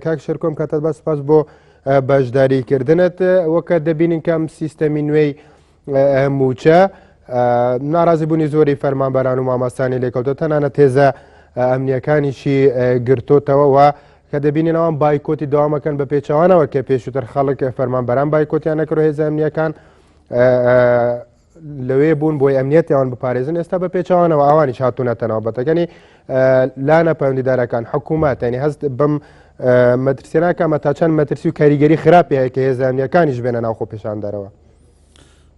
کاک شەرکۆم کاتت بە سپاس بۆ بەشداریکردنت وەکە دەبینین کەم سیستەمی نوێی موچە ناڕازی بوونی زۆری فەرمانبەران و مامەستانی لێکەوتە تەنانە تێزە ئەمنیەکانیشی گرتوتەوەەوە کە دەبینینەوەم بایکۆتی داوامەکەن بە پێچوانەوە کە پێشوتر خەڵک فەرمانبەران بایکۆتیان نەکرۆ هێزە ئەمنیەکان لەوێ بوون بۆی ئەمنیەتیان بپارێزن ئێستا بە پێچوانەوە ئەوانیش هاتوونەتە ناوبەتەکەنی لانە پەیوەندیدارەکان حکوومەت ینی هەست بم مەترسیێناکەمە تا چەند مەترسی و کاریگەری خراپی هەیە کە هێزانیەکانیش بێنە ناوخۆ پێشان دەرەوە.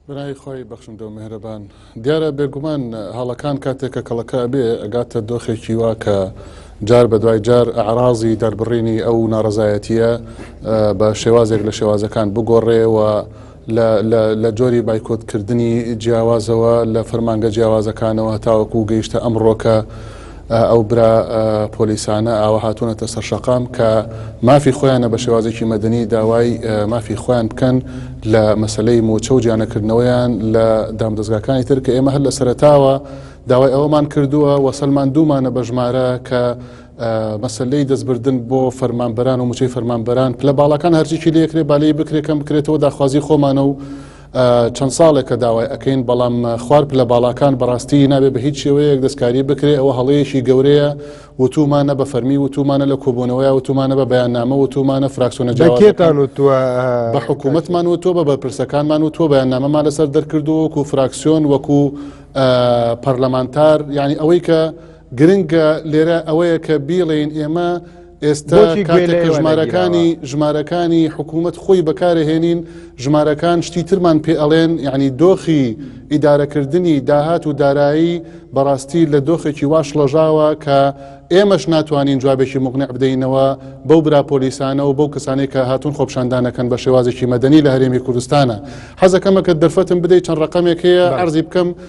برای خۆی بەخشندە و مهرەبان دیارە بێگومان هەڵەکان کاتێکە کەڵەکە بێ ئەگاتە دۆخێکی وا کە جار بە دوای جار ئەعرازی دەربڕینی ئەو ناڕزایەتیە بە شێوازێک لە شێوازەکان بگۆڕێ و لە لە لە جۆری بایکۆتکردنی جیاوازەوە لە فەرمانگە جیاوازەکانەوە هەتاوەکو گەیشتە ئەمڕۆکە ئەو برا پۆلیسانە ئاوە هاتوونەتە سەر شەقام کە مافی خۆیانە بە شێوازێکی مەدەنی داوای مافی خۆیان بکەن لە مەسلەی موچە و جیانەکردنەوەیان لە دامدەستگاکانی تر کە ئێمە هەر لە سەرتاوە داوای ئەوەمان کردووە وەسەلمان دوومانە بە ژمارە کە مەسەلەی دەستبردن بۆ فەرمانبەران و موچەی فەرمانبەران پلە باڵەکان هەرچێکی لەکرێ بالەی بکرێکەم بکرێتەوە داخوازی خۆمانە و چەند ساڵێکە داوای ئەەکەین بەڵام خوار پلە باڵاکان بەڕاستی نابێ بە هیچ شێوەیەک دەستکاری بکرێ ئەوە هەڵەیەکی گەورەیە وتومانە بە فەرمی وتومانە لە کۆبوونەوەی وتومانە بە بەیاننامە وتومانە فراکسۆنە جاکێتان و تۆ بە حکوومەتمان و تۆ بە بەرپرسەکانمان و تۆ بەیاننامەمان لەسەر دەرکردو وەکو فراکسیۆن وەکو پەرلەمانتار یعنی ئەوەی کە گرنگە لێرە ئەوەیە کە بیڵێین ئێمە ئێستا کاتێکە ژمارەکانی ژمارەکانی حکوومەت خۆی بەکارهێنین ژمارەکان شتی ترمان پێ ئەڵێن یعنی دۆخی ئیدارەکردنی داهات و دارایی بەڕاستی لە دۆخێکی واش ڵەژاوە کە ئێمەش ناتوانین جوابێکی مقنع بدەینەوە بەو براپۆلیسانە و بەو کەسانی کە هاتون خۆپشاندانەکەن بە شێوازێکی مەدەنی لە هەرێمی کوردستانە حەزەکەمە کە دەرفەتم بدەیت چەند ڕقمێک هەیە ئەرزی بکەم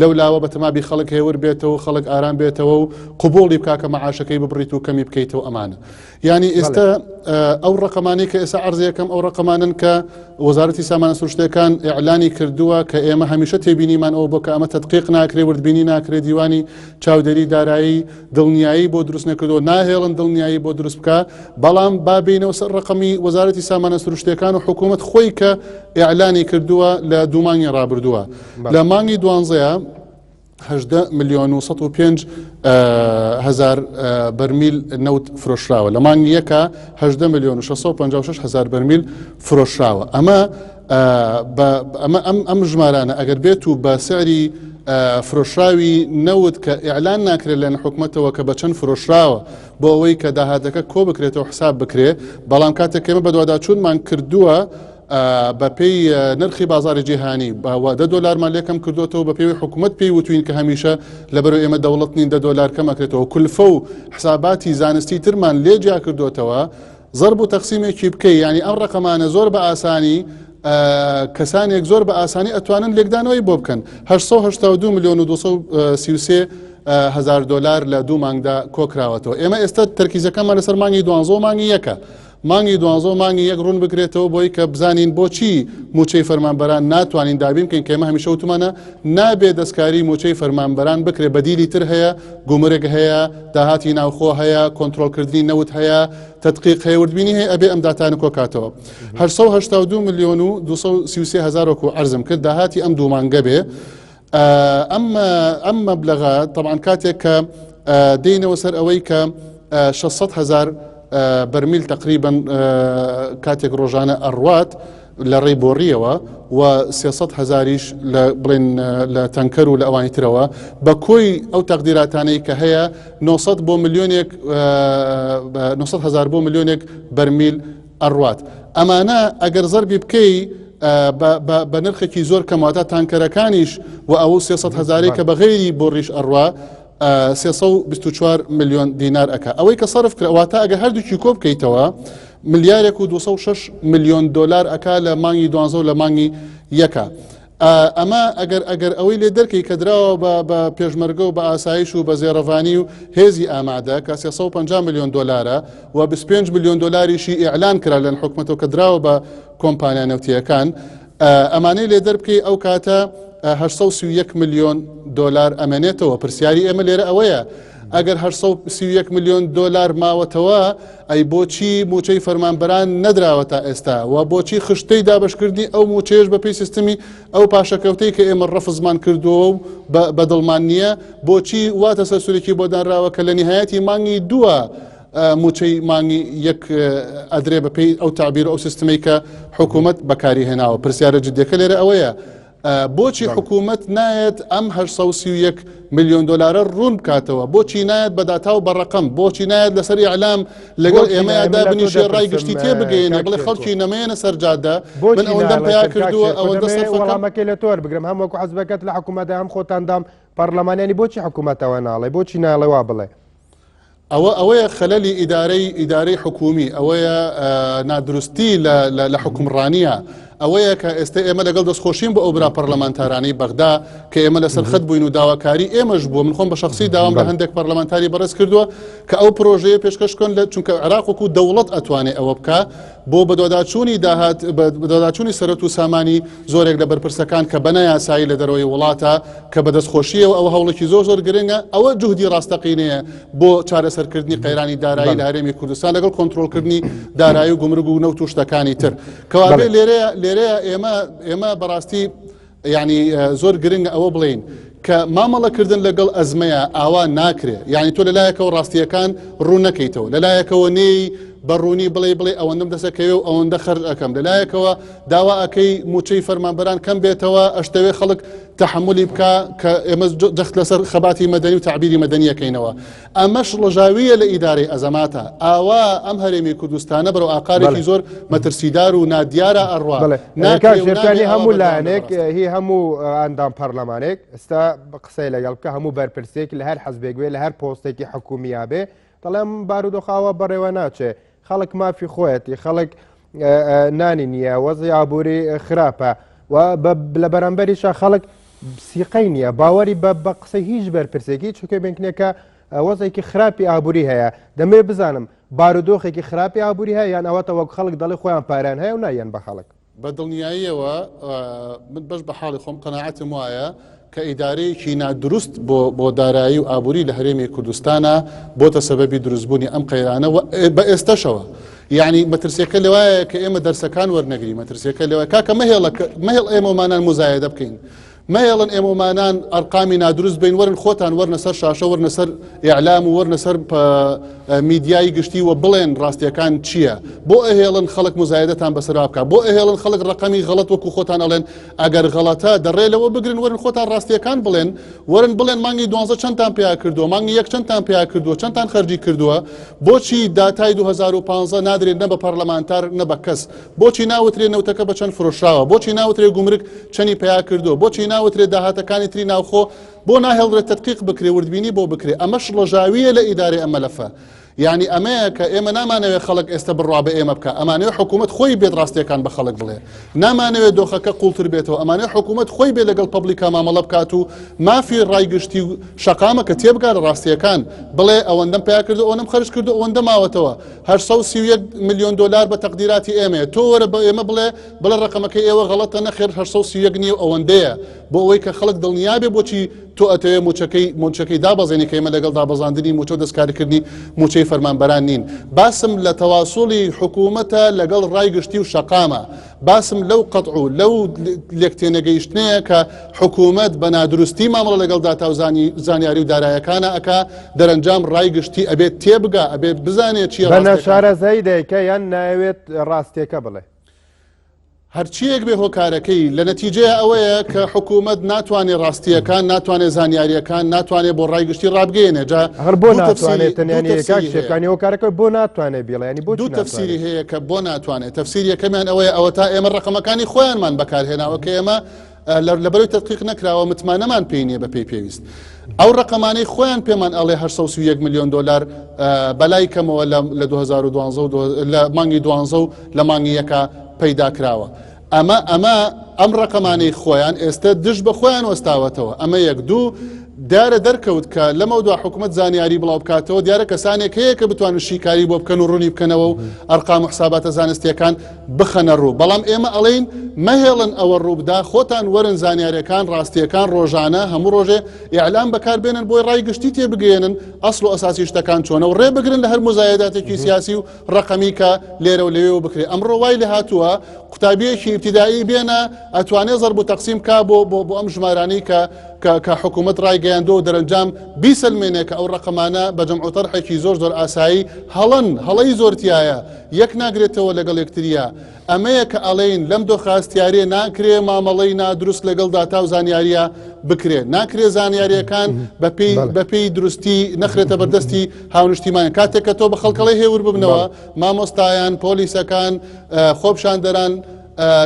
لەو لاوە بە تەمابی خەڵک هێور بێتەوەو خەڵک ئارام بێتەوەو قبوڵی بکا کە مەعاشەکەی ببڕیت و کەمی بکەیتەوە ئەمانە یانی ئێستا ئەو ڕقەمانەی کە ئێستا عرضەکەم ئەو ڕقەمانن کە وەزارەتی سامانە سروشتەکان ئەعلانی کردووە کە ئێمە هەمیشە تێبینیمان ئەو بۆ کە ئەمە تدقیق ناکرێ وردبینی ناکرێت دیوانی چاودێری دارایی دڵنیایی بۆ دروست نەکردو ناهێڵن دڵنیایی بۆ دروست بکە بەڵام بابینەوە سەر ڕقەمی وەزارەتی سامانە سروشتەکان و حکوومەت خۆی کە ئەعلانی کردووە لە دومانی ڕابردووە لە مانگی دوانزەیە هەژدە ملیۆن و سەد و پێنج هزار بەرمیل نەوت فرۆشراوە لە مانگی یەکە هەژدە ملیۆن و 656 هزار بەرمیل فرۆشراوە ئەمە ئەمە ئەم ئەم ژمارانە ئەگەر بێت و بە سعری فرۆشراوی نەوت کە ئیعلان ناکرێت لەن حکوومەتەوە کە بە چەند فرۆشراوە بۆ ئەوەی کە داهاتەکە کۆ بکرێتەوە حساب بکرێ بەڵام کاتێکەمە بەدواداچوونمان کردووە بە پێی نرخی بازاری جیهانی باوە دە دۆلارمان لێکم کردوێتەوە بە پێوی حکوومەت پێی وتوین کە هەمیشە لەبەر ئێمە دەوڵەت نین دە دۆلار کەمەکرێتەوە کولفە و حساباتی زانستی ترمان لێ جیا کردوێتەوە زەرب و تەقسیمێکی بکەی ینی ئەم ڕقەمانە زۆر بە ئاسانی کەسانێک زۆر بە ئاسانی ئەتوانن لێکدانەوەی بۆ بکەن 1970 میلیۆن و 1930 هزار دلار لە دوو مانگدا کۆکراوەتەوە ئێمە ئێستا تەرکیزەکەمان لەسەر مانگی دوانزۆ مانگی یەکە مانگی دوانزە و مانگی یەک ڕوون بکرێتەوە بۆی کە بزانین بۆچی موچەی فەرمانبەران ناتوانین دابین بکەین کەمە هەمیشە وتمانە نابێ دەستکاری موچەی فەرمانبەران بکرێ بەدیلی تر هەیە گومرگ هەیە داهاتی ناوخۆ هەیە کۆنتترۆلکردنی نەوت هەیە تدقیق هەیە وردبینی هەیە ئەبێ ئەم داتانە کۆکاتەوە 1970 میلیۆن و 230 هزار وکو ئەرزم کرد داهاتی ئەم دوومانگە بێ ئەمە ئەم مەبلغە طبعاان کاتێک کە دێنەوە سەر ئەوەی کە 600 هزار بەرمیل تقریبن کاتێک ڕۆژانە ئەڕوات لە ڕێی بۆڕیەوە و 300 هزاریش لە بڵێن لە تەنکەر و لە ئەوانی ترەوە بە کۆی ئەو تەقدیراتانەی کە هەیە 900 بۆ میلیۆنێک 900 هزار بۆ میلیۆنێک بەرمیل ئەڕوات ئەمانە ئەگەر زەربی بکەی بە نرخێکی زۆر کەمواتە تانکەرەکانیش و ئەو 300 هزاری کە بەغێری بۆ ڕیش ئەڕوا 324 میلیۆن دینار ئەک ئەوەی کە سەرف کراواتە ئەگە هەردووکی کۆ بکەیتەوە ملیارێک و 26 میلیۆن دلار ئەک لە مانگی دوانزە و لە مانگی یەکە. ئەمە ئەگەر ئەگەر ئەوەی لێ دەرکەی کە دراوە بە بە پێشمەرگە و بە ئاسایش و بە زێڕەڤانی و هێزی ئامادە کە 350 میلیۆن دلارە و 25 میلیۆن دلاریشی ئیعلان کرا لەن حکومەتەوە کە دراوە بە کۆمپانیا نەوتیەکان ئەمانەی لێ دەربکەی ئەو کاتە 1970 میلیۆن دلار ئەمێنێتەوە پرسیاری ئێمە لێرە ئەوەیە ئەگەر هەشت سەد و سی و یەک ملیۆن دۆلار ماوەتەوە، ئەی بۆچی مووچەی فەرمانبەران نەدراوە تا ئێستا؟ وە بۆچی خشتەی دابەشکردنی ئەو مووچەیەش بەپێی سیستمی ئەو پاشەکەوتەی کە ئێمە ڕەفزمان کردووەو بە بە دڵمان نییە، بۆچی وا تەسەلسولێکی بۆ دانراوە کە لە نیهایەتی مانگی دووە مووچەی مانگی یەک ئەدرێ بەپێی ئەو تەعبیرو ئەو سیستمەی کە حکوومەت بەکاری هێناوە؟ پرسیارە جدیەکە لێرە ئەوەیە، بۆچی حکوومەت نایەت ئەم هە سە و سی و یەک ملیۆن دلارە ڕوون بکاتەوە بۆچی نایەت بە داتا و بەڕقم بۆچی نایەت لەسەر ئەعلام لەگەڵ ئێمەدا بنیشێ ڕای گشتی تێ بگەێنێ بڵێ خەڵکی نەمەیەنە سەرجادە من ئەوەندەم پیا کردووە ئەوەندە سەرفەکەمەکەی لە تۆر بگرم هەم وەکو حزبەکەت لە حکوومەتدا هەم خۆتاندام پەرلەمانیانی بۆچی حکوومەتەوە ناڵێ بۆچی ناڵێوا بڵێ ئەوە ئەوەیە خەلەلی ئیدارەی ئیدارەی حکومی ئەوەیە نادروستی لە حکومڕانیە ئەوەیە کە ئێستا ئێمە لەگەڵ دەستخۆشیم بۆ ئەو برا پەرلەمانتارانی بەغدا کە ئێمە لە سەرخەت بووین و داواکاری ئێمەش بووە من خۆم بە شخصی داوام لە هەندێک پەرلەمانتاری بەڕێز کردووە کە ئەو پرۆژەیە پێشکەشکن لە چونکە عراق وکو دەوڵەت ئەتوانێت ئەوە بکە بۆ بەدواداچوونی داهات بەدواداچوونی سەرەت و سامانی زۆرێک لە بەرپرسەکان کە بەنایاسایی لە دەرەوەی وڵاتە کە بەدەستخۆشیەوە ئەوە هەوڵێکی زۆر زۆر گرنگە ئەوە جوهدی ڕاستەقینەیە بۆ چارەسەرکردنی قەیرانی دارایی لە هەرێمی کوردستان لەگەڵ کۆنتترۆلکردنی دارایی و گمرگ و نەوت و شتەکانی تر کەوابێ لێرەیە لێرەیە ئێمە ئێمە بەڕاستی یانی زۆر گرنگ ئەوە بڵین کە مامەڵەکردن لەگەڵ ئەزمەیە ئاوا ناکرێ یانی تۆ لەلایەکەوە ڕاستیەکان ڕوونەکەیتەوە لەلایەکەوە نێی بەڕوونی بڵێ بڵێ ئەوەندەم دەسەکەوێ و ئەوەندە خەرج ئەەکەم لەلایەکەوە داوا ئەەکەی موچەی فەرمانبەران کەم بێتەوە ئەشتەوێ خەڵک تحملی بکە کە ئێمە جەخت لەسەر خەباتی مەدەنی و تعبیری مەدەنیەکەینەوە ئەمەش ڕژاویە لە ئیدارەی ئەزەماتە ئاوا ئەم هەرێمی کوردستانە بەرەو ئاقارێکی زۆر مەترسیدار و نادیارە ئەڕوا ناکانی هەموو لایەنێک هی هەموو ئەندام پەرلەمانێک ئستا قسەی لەگەڵ بکە هەموو بەرپرسێک لە هەر حەزبێک بێ لە هەر پۆستێکی حکومیابێ دەڵێم بارودۆخاوە بەڕێوە ناچێت خەڵک مافی خۆیەتی خەڵک نانی نییە وەزی ئابووری خراپە و لە بەرامبەریشە خەڵک سیقەی نییە باوەری بە بە قسە هیچ بەرپرسێکی چکە بنکنێکە وەزێکی خراپی ئابووری هەیە دەمێ بزانم بارودۆخێکی خراپی ئابووری هەیە یان ئەوەتە وەک خەڵک دەڵی خۆیان پاران هەیە و نایەن بە خەڵک بە دڵنیاییەوە من بەش بە حاڵی خۆم قەنەعەتم وایە کە ئیدارەیەکی نادروست بۆ دارایی و ئابووری لە هەرێمی کوردستانە بۆتە سەبەبی دروستبوونی ئەم قەیرانە بە ئێستەشەوە یعنی مەترسیەکە لەوایە کە ئێمە دەرسەکان وەرنەگری مەترسیەکە لەوە کاکە مەهێڵە مەهێڵ ئێمەمانان مزایدە بکەین مەیەڵن ئێمەمانان ئەرقامی نادروست بین وەرن خۆتان وەرنە سەر شاشە وەرنە سەر ئیعلام و وەرنە سەر میدیایی گشتی و بڵێن ڕاستیەکان چییە بۆ ئەهێڵن خەڵک مزایدەتان بەسرا بکە بۆ ئەهێڵن خەڵک ڕقەمی غەڵت وەکو خۆتان ئەڵێن ئەگەر غەڵەتە دەڕێ لەوە بگرن وەرن خۆتان ڕاستیەکان بڵێن وەرن بڵێن مانگی دوانزە چەندتان پیا کردو مانگی یەک چەندتان پیا کردو چەندتان خەرجی کردووە بۆچی داتای 2015 نادرێت نە بە پەرلەمانتار نە بە کەس بۆچی ناوترێ نەوتەکە بە چەند فرۆشراوە بۆچی ناوترێ گومرک چەنی پیا کردو بۆچی ناوترێ داهاتەکانی تری ناوخۆ بۆ ناهێڵرێت تدقیق بکرێ وردبینی بۆ بکرێ ئەمە شڵەژاویە لە ئیدارەی ئەمەلەفە یعنی ئەمەیە کە ئێمە نامانەوێت خەڵک ئێستا بڕوا بە ئێمە بکە ئەمانەوە حکوومەت خۆی بێت ڕاستیەکان بە خەڵک بڵێ نامانەوێت دۆخەکە قوڵتر بێتەوە ئەمانە حکوومەت خۆی بێ لەگەڵ پبلیکا مامەڵە بکات و مافی ڕای گشتی و شقامە کە تێبگا لە ڕاستیەکان بڵێ ئەوەندەم پیا کردو ئەوەم خرج کردو ئەوەندە ماوەتەوە 831 ملیۆن دۆلار بە تەقدیراتی ئێمەیە تۆ وەرە بە ئێمە بڵێ بڵە ڕقەمەکە ئێوە غەڵەتە نەخێر 831 نیە ئەوەندەیە بۆ ئەوەی کە خەڵک دڵنیابێ بۆچی تۆ ئەتەوێ موچەکەی مونچەکەی دابەزێنی کە ئێمە لەگەڵ دابەزاندنی موچە و دەستکاریکردنی موچەی فەرمانبەران نین باسم لە تەواسوڵی حکوومەتە لەگەڵ ڕای گشتی و شەقامە باسم لەو قەتع و لەو لێک تێنەگەیشتنەیە کە حکوومەت بە نادروستی مامەڵە لەگەڵ داتا و زانیاری و دارایەکانە ئەک دەرەنجام ڕای گشتی ئەبێت تێبگا ئەبێت بزانێت چی شارەزایی دایکە یان ناوێت ڕاستێکە بڵێ هەرچیەک بێ هۆکارەکەی لە نەتیجە ئەوەیە کە حکوومەت ناتوانێت ڕاستیەکان ناتوانێت زانیاریەکان ناتوانێت بۆ ڕای گشتی ڕابگەێنێ جا هەر بۆ ناتوانێت تەنیانەکانی هۆکارەکە بۆ ناتوانێت بیڵێنی بۆ دوو تەفسیری هەیە کە بۆ ناتوانێت تەفسیر یەکەمیان ئەوەیە ئەوەتا ئێمە ڕەقەمەکانی خۆیانمان بەکارهێناوە کە ئێمە لەبەرەوەی تدقیق نەکراوە متمانەمان پێی نیە بە پێی پێویست ئەو ڕقەمانەی خۆیان پێمان ئەڵێ 1970 میلیۆن دلار بەلای کەمەوە لە 2012 لە مانگی دوانزە و لە مانگی یەکە پەیدا کراوە ئەمە ئەمە ئەم ڕقەمانەی خۆیان ئێستا دژ بە خۆیان وەستاوەتەوە ئەمە یەک دوو دیارە دەرکەوت کە لەمەودوا حکومەت زانیاری بڵاوبکاتەوە دیارە کەسانێک هەیە کە بتوانن شیکاری بۆ بکەن و ڕوونی بکەنەوە و ئەرقام و حساباتە زانستیەکان بخەنە ڕوو بەڵام ئێمە ئەڵین مەهێڵن ئەوە ڕووبدا خۆتان وەرن زانیارەکان ڕاستیەکان ڕۆژانە هەموو ڕۆژێ ئیعلام بەکار بێنن بۆی ڕای گشتی تێ بگەێنن ئەسڵ و ئەساسی شتەکان چۆنە و ڕێ بگرن لە هەر مزایداتێکی سیاسی و ڕقەمی کە لێرە و لەوێ بکرێ ئەم ڕۆوای لە هاتووە قوتابیەکی ابتدایی بێنە ئەتوانێ زەرب و تەقسیم کا بۆ بۆ بۆ ئەم ژمارانەی کە کە کە حکومەت ڕایگەیاندووە و دەرەنجام بیسەلمێنێ کە ئەو ڕەقەمانە بە جەمع و تەرحێکی زۆر زۆر ئاسایی هەڵەن، هەڵەی زۆر تیایە، یەک ناگرێتەوە لەگەڵ یەکترییە. ئەمەیە کە ئەڵێین لەم دۆخە هەستیارێ ناکرێ مامەڵەی نادروست لەگەڵ داتا و زانیارییە بکرێ. ناکرێ زانیارییەکان بەپێی بەپێی دروستی نەخرێتە بەردەستی هاونیشتیمانیان. کاتێک کە تۆ بە خەڵکەڵێ هێور ببنەوە، مامۆستایان، پۆلیسەکان، خۆپشاندەران،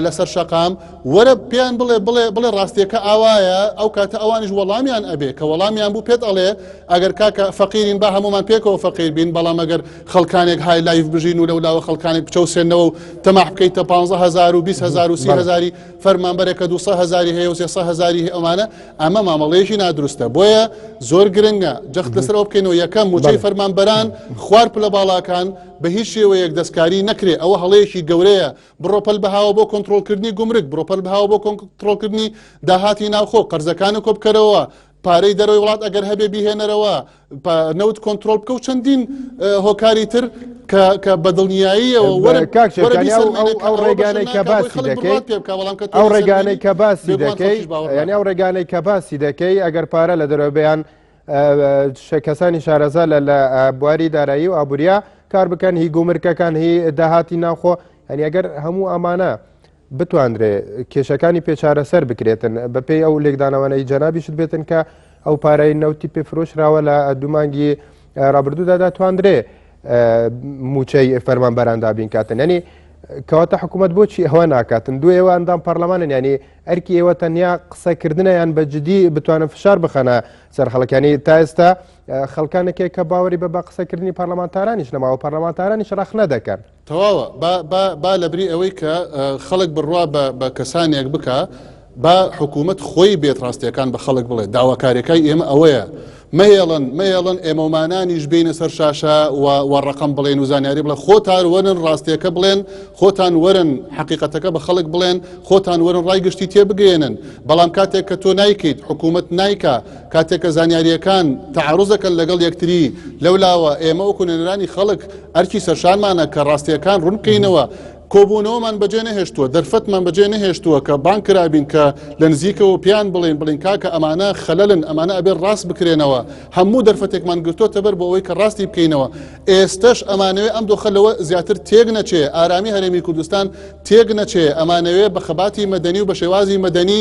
لەسەر شەقام وەرە پێیان بڵێ بڵێ بڵێ ڕاستیەکە ئاوایە ئەو کاتە ئەوانیش وەڵامیان ئەبێ کە وەڵامیان بوو پێت ئەڵێ ئەگەر کاکە فەقیرین با هەمومان پێکەوە فەقیر بین بەڵام ئەگەر خەڵکانێک های لایف بژین و لەولاوە خەڵکانێک بچەوسێنەوە و تەماح بکەیت تا 15هزار و 20هزار و سیهزاری فەرمانبەرێکە 200هزاری هەیە و 300هزاری ئەمانە ئەمە مامەڵەیەکی نادروستە بۆیە زۆر گرنگە جەخت لەسەر ئەو بکەینەوە یەکەم موچەی فەرمانبەران خوار پلە باڵاکان بە هیچ شێوەیەک دەستکاری نەکرێ ئەوە هەڵەیەکی گەورەیە بڕە پەل بەهاوە بۆ کۆنتترۆلکردنی گومرگ بڕە پەل بەهاوە بۆ کۆنتترۆلکردنی داهاتی ناوخۆ قەرزەکانی کۆبکەرەوە پارەی دەرەوەی وڵات ئەگەر هەبێ بیهێنەرەوە نەوت کۆنتترۆل بکە و چەندین هۆکاری تر کە بەدڵنیاییەوە ئەو ڕێگانەی کە باسی دەکەیت ئەو ڕێگانەی کە باسی دەکەیت ئەو ڕێگانەی کە باسی دەکەی ئەگەر پارە لە دەرەوەبیان کەسانی شارەزا لە لە بواری دارایی و ئابوریا کار بکەن هی گومرکەکان هی داهاتی ناوخۆ هەنی ئەگەر هەموو ئەمانە بتواندرێ کێشەکانی پێچارەسەر بکرێتن بەپی ئەو لێکدانەوەی جەنابیشت بێتن کە ئەو پارەی نەوتی پێفرۆشراوە لە دومانگی رابردوودا دەتواندرێ موچەی فەرمان بەراندابین کاتن ینی کەواتە حکوومەت بۆچی ئەوە ناکاتن دوێەوە ئەندام پەرلەمانن ینی ئەرکی ئێوە تەنیا قسە کردنە یان بە جدی بتوانن فشار بخەنە سەر خەڵکانی تا ئێستا خەڵکانێکێک کە باوەری بە بە قسەکردنی پەرلەمانتارانیش نەماوە پەرلەمانتارانیش ڕەخنە دەکەن تەواوە با لەبری ئەوەی کە خەڵک بڕوا بە کەسانێک بکە با حکوومەت خۆی بێت ڕاستیەکان بە خەڵک بڵێ داواکارەکەی ئێمە ئەوەیە مەهێڵن مەهێڵن ئێمەمانانیش بینە سەر شاشە و ڕقم بڵێن و زانیاری بڵێ خۆتان وەرن ڕاستیەکە بڵێن خۆتان وەرن حقیقەتەکە بە خەڵک بڵێن خۆتان وەرن ڕای گشتی تێبگەێنن بەڵام کاتێک کە تۆ نایکەیت حکوومەت نایکا کاتێکە زانیاریەکان تعرزەکەن لەگەڵ یەکتری لەولاوە ئێمە وەکوونەرانی خەڵک ئەرکی سەرشانمانە کە ڕاستیەکان ڕوونکەینەوە کۆبوونەوەمان بەجێ نەهێشتووە، دەرفەتمان بەجێ نەهێشتووە کە بانگ کرابین کە لە نزیکەوە پێیان بڵێین، بڵێین کاکە ئەمانە خەلەلن، ئەمانە ئەبێت ڕاست بکرێنەوە، هەموو دەرفەتێکمان گرتۆتەبەر بۆ ئەوەی کە ڕاستی بکەینەوە، ئێستەش ئەمانەوێ ئەم دۆخە لەوە زیاتر تێک نەچێ، ئارامی هەرێمی کوردستان تێک نەچێ، ئەمانەوێ بە خەباتی مەدەنی و بە شێوازی مەدەنی،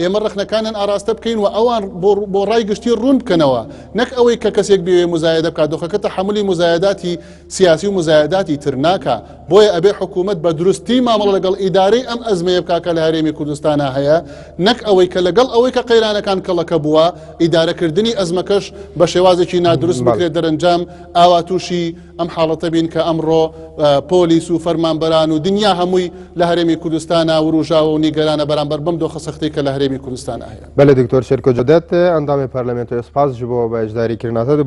ئێمە ڕەخنەکانیان ئاراستە بکەین و ئەوان بۆ ڕای گشتی ڕوون بکەنەوە نەک ئەوەی کە کەسێک بێ مزایدە بکات دۆخەکە تەحملی مزایداتی سیاسی و مزایداتی ترناکە بۆیە ئەبێ حکوومەت بە دروستی مامەڵە لەگەڵ ئیدارەی ئەم ئەزمەیە بکاکە لە هەرێمی کوردستانە هەیە نەک ئەوەی کە لەگەڵ ئەوەی کە قەیرانەکان کەڵەکە بووە ئیدارەکردنی ئەزمەکەش بە شێوازێکی نادروست بکرێت دەرەنجام ئاوا تووشی ئەم حاڵەتە بین کە ئەمڕۆ پۆلیس و فەرمانبەران و دنیا هەمووی لە هەرێمی کوردستانە وروژاوە و نیگەرانە بەرامبەر بم دۆخە سەختەی کە لە هەرێمی کوردستان هەیە بەلێ دکتۆر شێرکۆ جەدەت ئەندامی پەرلەمنت و سپاس ژ بۆ بە ئەشداری کردناتە